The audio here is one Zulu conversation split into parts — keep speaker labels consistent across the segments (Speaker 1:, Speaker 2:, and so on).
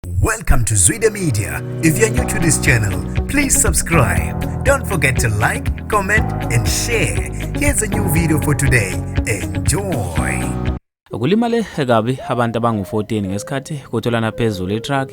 Speaker 1: Welcome to Zwide Media. If you're new to this channel, please subscribe. Don't forget to like, comment and share. Here's a new video for today. Enjoy.
Speaker 2: Kulimale kabi abantu abangu-14 ngesikhathi kutholana phezulu itruck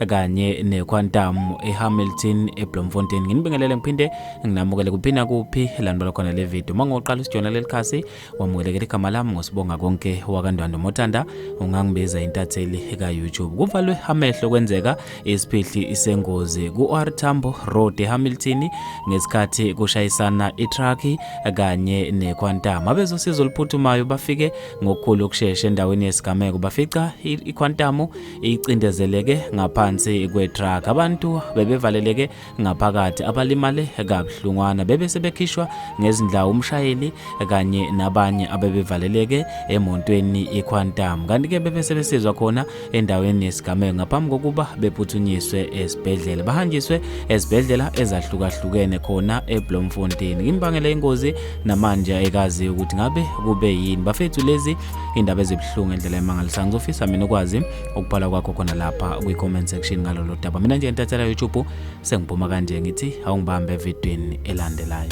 Speaker 2: kanye nequantum eHamilton eBloemfontein. Nginibingelele ngiphinde nginamukele kuphina kuphi landibala khona le video. Uma ngoqala usijona leli khasi wamukelekela igama lami ngosibonga konke wakandwando motanda ungangibiza intatheli ka-youtube kuvalwe amehlo kwenzeka isiphihli isengozi ku-r tambo road ehamilton ngesikhathi kushayisana itrucki kanye nequantum abezosiza oluphuthumayo bafike ngokukhulu ukushesha endaweni yesigameko bafica iquantum icindezeleke ngaphansi kwetruck abantu bebevaleleke ngaphakathi abalimale kabuhlungwana bebe sebekhishwa ngezindawo umshayeli kanye nabanye abebevaleleke emontweni iQuantum kanti-ke bebe sebesizwa khona endaweni yesigameko ngaphambi kokuba bephuthunyiswe esibhedlela bahanjiswe ezibhedlela ezahlukahlukene khona eBloemfontein imbangela yengozi namanje ayikazi ukuthi ngabe kube yini bafethu lezi indaba ezibuhlungu endlela emangalisayo ngizofisa mina ukwazi ukubhala kwakho khona lapha kwi-comment section ngalolo daba mina nje ntathela youtube sengiphuma kanje ngithi awungibambe evidweni elandelayo